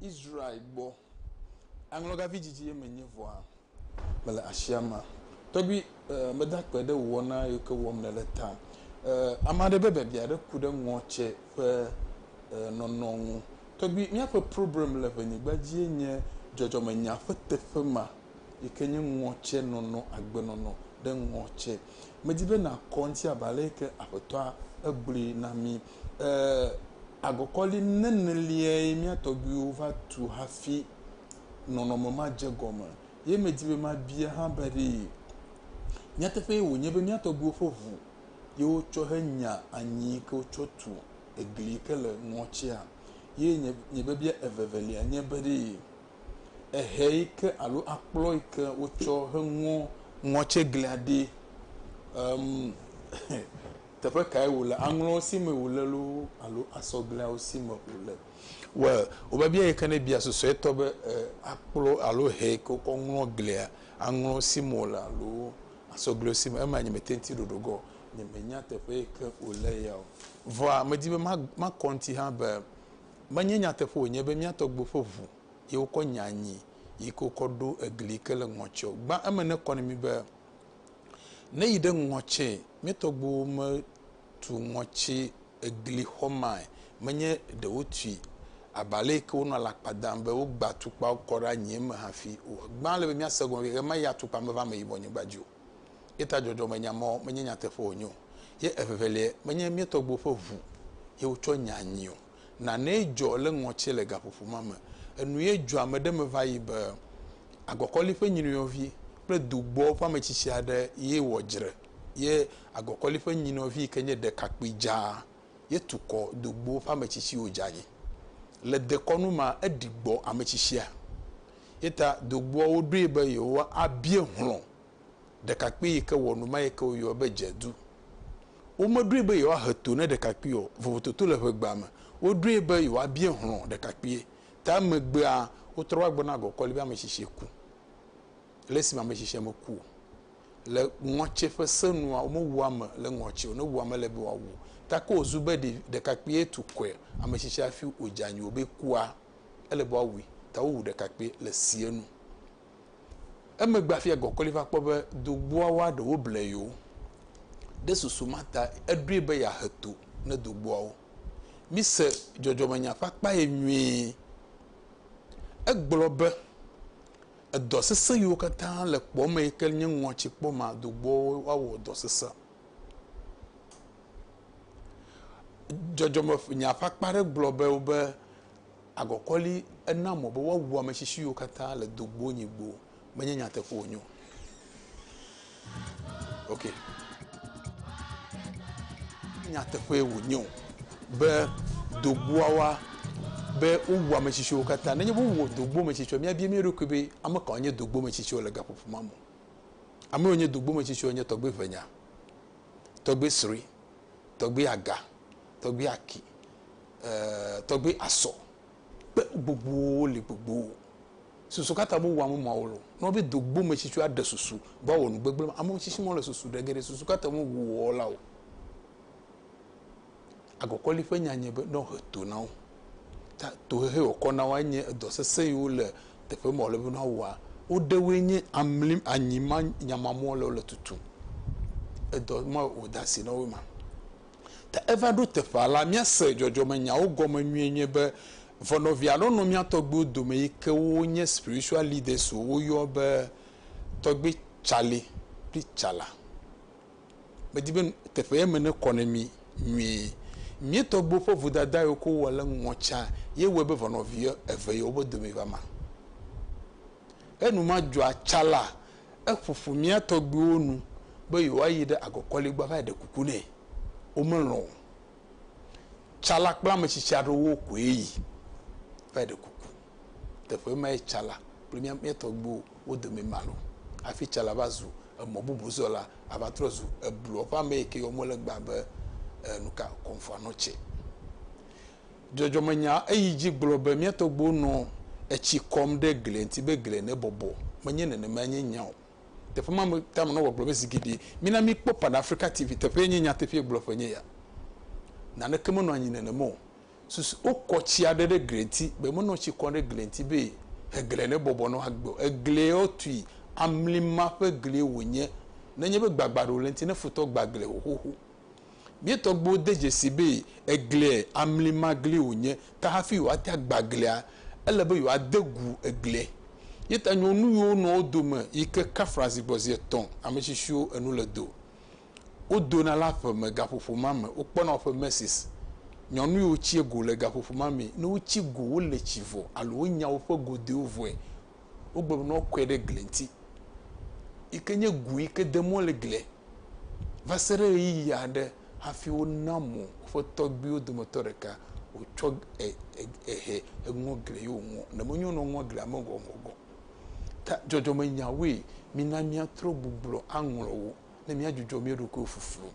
Israel gbɔ. Aŋlɔga vidzidzi ye menye vɔa? Mele asi ama. Tɔgbi, eh, meda akpe ɖe wò wɔna yiwo ke wɔm nèle ta. Eh, ame aɖe be biabia aɖe ku ɖe ŋɔtse ƒe eh, nɔnɔ ŋu. Tɔgbi, míaƒe problem le ʋenyigba dzie nye dzɔdzɔmenya ƒe teƒe ma yi ke nye ŋɔtse nɔnɔ, agbenɔnɔ ɖe ŋɔtse. Medi be nàkɔ ŋuti abe ale yi ke Aƒetɔa egblɔe na mí. Ee, agɔkɔli neneliae mía tɔgbuiwo va tu hafi nɔnɔme ma dze egɔme. Ye medi be mabia hã be ɖe nyateƒee wònye be mía tɔgbuiwo ƒe ʋu ye wotsɔ henya anyi yi ke wotsɔ tu egli yi ke le ŋɔtia? Ye nye, nye biabia evevelia nye be ɖe ehe yi ke alo akplɔ yi ke wotsɔ heŋɔ ŋɔtieglia ɖee? Em, teƒe kae wòle, aŋlɔwo si mee wòle loo alo asɔgleawo si me wòle. Well, wobabia ye ke ne bia susuetɔ be, E, akplɔ alo hɛ ke kɔ ŋlɔ glia, aŋlɔwo si me wòle alo asɔglewo si me? Ema nyemete ŋuti ɖoɖo ge o. Nyemenya teƒe yi ke wòle ya o. Vɔa, medi be ma, makɔ ŋuti hã be, menye nyateƒe wònye be mía tɔgbuiwo ƒe ʋu ye wokɔ nya anyi yi ke wokɔ ɖo egli yi ke le ŋɔtiɔ gbã. Eme nekɔ na mí be Ne yi ɖe ŋɔtse, mía tɔgbuiwo me tu ŋɔtse egli xɔ mae, menye ɖe wo tui aba le yi ke wo nɔ alakpa dam be wo gba tukpawo kɔ ɖe anyie me hafi o. Egbã le be mía se gɔme be ɣe ma ɣia tukpa me va ame yibɔ nyigba dzi o. Yeta dzɔdzɔ me nya mɔ menye nyateƒe wo nye o. Ye evevelie, menye mía tɔgbuiwo ƒe ʋu ye wo tsɔ nya anyi o. Nanee dzɔ le ŋɔtsie le gaƒoƒo ma me. Enuye dzɔ ame ɖe me va yi be agɔkɔli ƒe nyinɔvi kple dugbɔ ƒe ametsitsi aɖe ye wɔ dzre ye agɔkɔli ƒe nyinɔvi yike nye ɖekakpui dzaa ye tukɔ dugbo ƒe ametsitsiwo dze anyi. Le dekɔnu ma eɖi gbɔ ametsitsia ye ta dugboawo ɖoe be yewoa bie hlɔ ɖekakpui yi ke wɔ nu ma yi ke woyɔa be dzedu. Womeɖoe be yewoahe to ne ɖekakpui o, vovototo le ʋegbea me. Woɖoe be yewoabia hlɔ̃ ɖekakpuie ta megbea, wotrɔ va gbɔna gɔkɔ ale be ame tsitsi ku. Le esime ame tsitsia meku o, le ŋɔtse ƒe se nua, womewu ame le ŋɔtse o, ne wowu ame le be woawu o. Gake wòzu be ɖevi, ɖekakpuie tu kɔe, ame tsitsi hafi wòdze anyi o be ekua, ele be woawui ta wowu ɖekakpuie le sie nu. Emegbe afia gɔkɔli va kpɔ be dogboawoa ɖewo ble yewo. Ɖe susu ma ta eɖoe be yeahe to ne dogboawo. Mise dzɔdzɔmenya ƒe akpa ye nyuie. Egblɔ be, Edɔ sesẽ yiwo katã le kpɔ eme yi ke nye ŋɔtsi kpɔ ma, dogboawo awɔ dɔ sesẽ. Dzɔdzɔmenya ƒe akpa aɖe gblɔ be, agɔkɔli ena mɔ be woawu ame si siwo katã le do gbo nyi gbo menye nyateƒe wonye o. Ok. Nyateƒe wonye o be dogboawa be wowu ame si siwo katã nenye be wowu dogbo me si siwo míabia mía ɖokui be ame kawo nye dogbo me si siwo le gaƒoƒo ma me. Ame yiwo nye dogbo me si siwo nye tɔgbe Venya, tɔgbe Sri, tɔgbe Aga, tɔgbe Aki, eh, tɔgbe asɔ kpe gbogbowo li gbogbowo susu kata bo wamu ma wolo no be do gbo me tsitsu aɖe susu ba wɔ nu gbegble ma amu tsitsi mo le susu ɖe geɖe susu kata mo wu wɔ la o agɔkɔli ƒe nya nye be no he to na wo ta to he he wɔ kɔ na wo nye dɔ sese yi wo le teƒe mo le be no wa wo de wo nye amlim anyi ma nyama mo le wo le tutu edɔ ma wo da si na wo ma Ke eva ɖo teƒea la, míase dzɔdzɔmenyawo gɔme nyuie nye be ʋɔnɔvi alo nɔ mía tɔgbuiwo dome yi ke wonye spiritual leaders o woyɔ be Tɔgbui Charlie kple Tsala. Medi be teƒe ye me ne kɔ ne mí nyuie. Mía tɔgbuiwo ƒe vodada yiwo ke wowɔ le ŋɔ tsã ye wɔe be ʋɔnɔvi eve yewo be dome va ma. Enuma dzɔa Tsala Eƒo ƒu mía tɔgbuiwo nu be yewoayi ɖe agɔkɔligba va yi ɖe kuku nɛ. Womelɔ̃ o. Tsala kple ame tsitsi aɖewo koe yi va yi ɖe kuku. Teƒe mae tsala kple mía, mía tɔgbuiwo wo dome ma lɔ̃ hafi tsala va zu emɔbubuzɔla ava trɔ zu ebluɔ ƒe ame yi ke yɔm wole gbã be, e, nuka, Kɔmfɔanɔtse. Dzɔdzɔmenya eyi dzi gblɔ be, Mía tɔgbuiwo nɔ etsi kɔm ɖe glia ŋuti be glia nebɔbɔ. Menye nenemae nye nya o. Teƒe ma me tamenɔwɔ gblɔ be, Zi geɖe, mina míkpɔ Pan Afrika TV. Teƒee nye nyateƒee gblɔƒe nye ya. Naneke menɔ anyi nenema o. Susu wokɔ tsi aɖe ɖe glia ŋuti be menɔ tsi kɔm ɖe glia ŋuti be glia nebɔbɔ ne woagbe o. Eglie wotui, amlima ƒe glie wònye. Nenye be gbagbã aɖe wòle eŋuti ne futɔ gbã glia wòxoxo. Mía tɔgbuiwo de dzesii be eglia amli magli wònye, ke hafi yewoate agba eglia, ele be yewoade gu eglia. Ye ta nyɔnuviwo nɔ wo dome yi ke kafla zi gbɔ zi etɔ̃, ame tsitsiwo enu le do. Wodona le aƒe me gaƒoƒo ma me. Wokpɔna woƒe messes. Nyɔnuviwo tsia go le gaƒoƒo ma mee. Ne wotsi go, wole tsi vɔ alo wonya woƒe godoewo vɔe wogblɔ be ne woakɔe ɖe gli ŋuti yi ke nye gu yi ke de mɔ le glia va se ɖe ɣeyiɣi aɖe hafi wona mo woƒe tɔgbuiwo dometɔ ɖeka wòtsɔ ehe eŋɔ gli ye wòŋɔ. Ne menyo ne woŋɔ glia me gɔgɔgɔ. Ta dzɔdzɔmenyawoe mina míatrɔ gbuglɔ aŋlɔ wo. ne míadzudzɔ mía ɖokuiwo fuflu.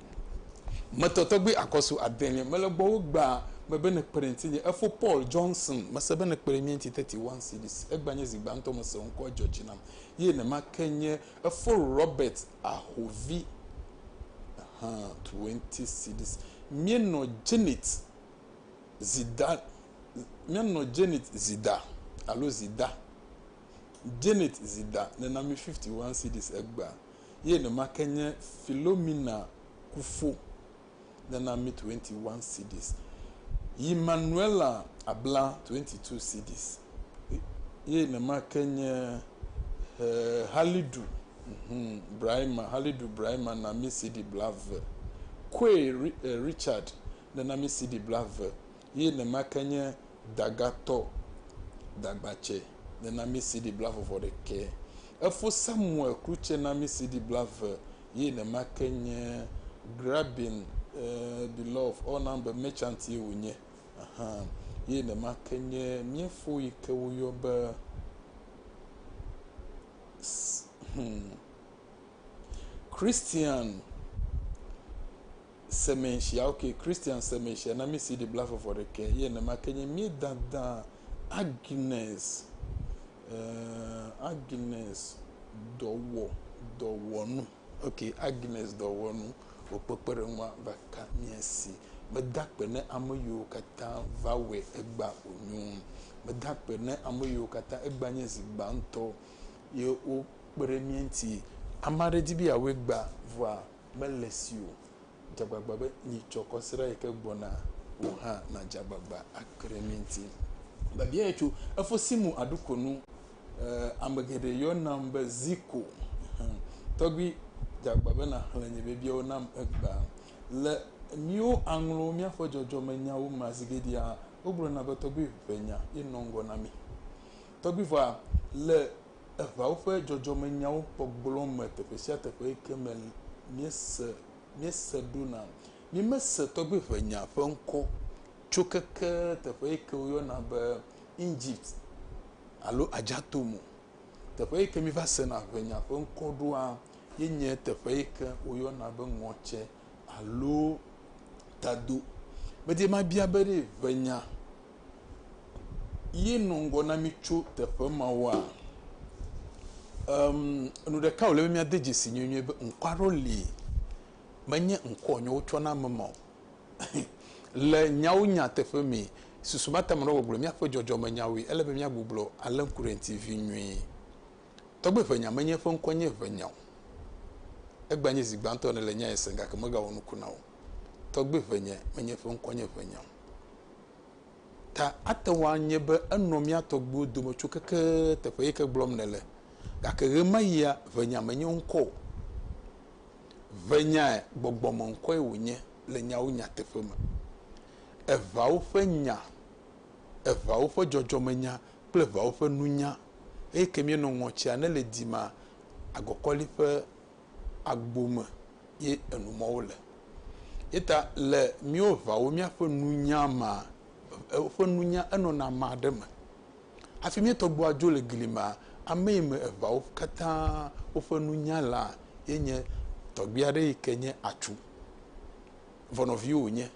Metɔ tɔgbi akɔsu adelia mele gbɔ wo gba me be ne kpe ɖe ŋtinye. Efo Paul Johnson mese be ne kpe ɖe mía ŋti thirty one cedis. Egba nye zi gbãtɔ mese wo ŋkɔ edzɔ dzi nam ye nema ke nye efo Robert Ahovi hã twenty cedis. Mía nɔ Janet Zida mía nɔ Janet Zida alo Zida Janet Zida nena mi fifty one cedis egba. ye enumake nye Philomena kufo nana mi 21 cedis, yi Manuela abla 22 cedis, ye enumake nye eh, Halidu, mm, Brahima, Halidu Brahima na mi cedi bla eve, Koe eh, Richard nana mi cedi bla eve, Ye nema ke nye dagatɔ dagbatsɛ nenami sidi blavɔvɔ ɖekɛ. Efo Samuel krutsɛ nami sidi blave ye nema ke nye grabbing the love ɔ nan be merchant ye wo nye ahan ye nema ke nye miefo yi ke wo yɔ be hmm Christian semensia ok Christian semensia na mi CD bla fɔfɔ ɖe ke ye ne ma ke nye mi dada Agnes uh, Agnes dɔwɔ dɔwɔnu ok Agnes dɔwɔnu wò kpekpeɖeŋua va ka mia si meda akpe ne ame yiwo katã va wɔe egba wònyo meda akpe ne ame yiwo katã egba nye zi gbãtɔ ye wokpe ɖe mia ŋuti ame aɖe di be yeawɔe gba vɔa Mele si o, dze agbagba be yi tsɔ kɔsiɖa yi ke gbɔna wò hã nàdze agbagba akpli mí ŋuti. Biabiae tso efo si mu aɖu ko nu. Eh, ame geɖe yɔnam be Zico. Hm, tɔgbui, dze agbagba be nàxlẽ nye biabiawo nam egbea. Le míwo aŋlo míaƒe dzɔdzɔmenyawo mea, zi geɖea wogblɔna be tɔgbui ʋe nya ye nɔ ŋgɔ na mí. Tɔgbuivɔa, le eŋawo ƒe dzɔdzɔmenyawo gbɔgblɔ me teƒe sia teƒe yi ke me míese míese ɖo na. Mímese tɔgbiʋenya ƒe ŋkɔ tso keke teƒe yi ke woyɔna be Egypt alo Adjatoum o. Teƒe yi ke míva sena ʋenya ƒe ŋkɔ ɖoa ye nye teƒe yi ke woyɔna be ŋɔtse alo tado. Medi mabia be ɖe ʋenya yi nɔ ŋgɔ na mí tso teƒe mawoa? Em, enu ɖeka wòle be míade dzesi nyuie be ŋkɔ aɖewo li, menye ŋkɔ wonye wotsɔ na ame ma o. Le nyawo nya teƒe mee, susu mate ame aɖewo gbɔgblɔ míaƒe dzɔdzɔmenyawoe. Ele be míagbuglɔ alẽ ŋku ɖe eŋuti vi nyuie. Tɔgbe ʋenya menye eƒe ŋkɔ nye ʋenya o. Egbea nye zi gbãtɔ ene le nya ya sem gake megawɔ nuku na wo. Tɔgbe ʋenya menye eƒe ŋkɔ nye ʋenya o. Ta ate ŋu anye be enɔ mía tɔgbuiwo dome tso keke teƒe yi ke gblɔm nèle. Gake ɣemaɣia ʋenya menye ŋkɔ o. Ʋenyae, gbɔgbɔmeŋkɔe wònye le nyawo nyateƒe me. Eʋeawo ƒe nya, eʋeawo ƒe dzɔdzɔmenya kple eʋeawo ƒe nunya. Eyi ke míenɔ ŋɔtia ne le dima agɔkɔli ƒe agbo me ye enumɔwo le. Yeta le míwo ŋawo míaƒe nunya ma, woƒe nunya enɔna ma ɖe me. Hafi mía tɔgbuia dzo le gli mea, ame yi me eŋawo katã woƒe nunya lea ye nye tɔgbui aɖe yi ke nye atsu. Vɔ nɔvi wònye.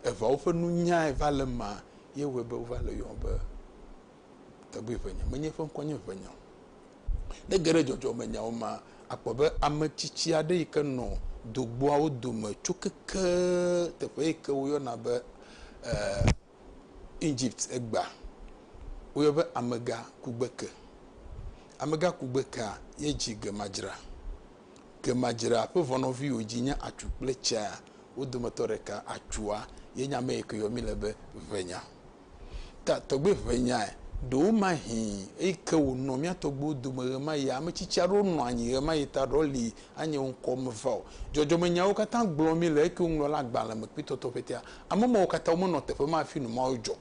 Eŋawo ƒe nunyae va le ema ye wɔe be wova le yɔm be. tɔgbi ƒe nya. Menye eƒe ŋkɔ nye ʋe nya o. Ne ege ɖe dzɔdzɔme nyawo me akpɔ be ame tsitsi aɖe yi ke nɔ do gbɔawo dome tso keke teƒe yi ke woyɔna be eh, Egypt egbea, woyɔ be amega kugbeke. Amega kugbekea ye dzi gemadzra. Gemadzra ƒe vɔnɔvi wo dzi nye atsu kple tsea wo dometɔ ɖeka. Atsua ye nye ame yi ke yɔ mi le be ʋe nya. Ka tɔgbe ʋe nyae? Ɖewomahĩ eyi ke wònɔ mía tɔgbewo dome ɣemaɣia, ame tsitsi aɖewo nɔa anyi ɣemaɣi ta ɖɔ li anye wo ŋkɔ meva o. Dzɔdzɔmenyawo katã gblɔ mí le eke woŋlɔ le agbalẽ me kpetɔtɔ ƒetea. Ame mawo katã womenɔ teƒe ma hafi nu mawo dzɔ.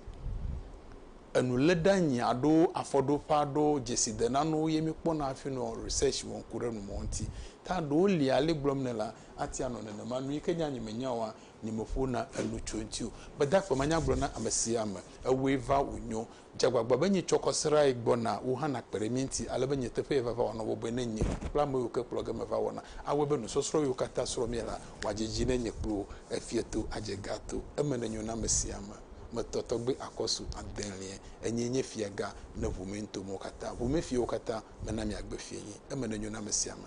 Enuléɖeanyi alo afɔɖoƒe aɖewo, dzesidenanuwo ye míekpɔna hafi nɔ research wɔm ku ɖe nu mawo ŋuti. Ta ɖewo li ale gblɔm nèle la, ate ŋu anɔ nenema. Nu yi ke nye anyi menya oa, nyemeƒona enu tso eŋuti o. Gbedakpe manya gblɔ na amesiame, Ewɔe va wònyo. Dze agbagba be nye tsɔkɔ srãe gbɔna, wò hã nàkpe ɖe mía ŋuti, ale be nye teƒee vava wòanɔ bɔbɔe ne nye kple ameyio ke kplɔ ge meva wɔna. Awɔe be nusɔsrɔ̃ yiwo katã srɔ̃ mía la, wòadze edzi ne nye kple wò, efia to, adze ga to. Eme nenyo na amesiame. Metɔ tɔgbe akɔsu adelie. Enyee nye fiaga ne ʋu me nto mɔwo katã. Ʋu me fiawo katã mena miagbe fiẽ. Eme nenyo na amesiame.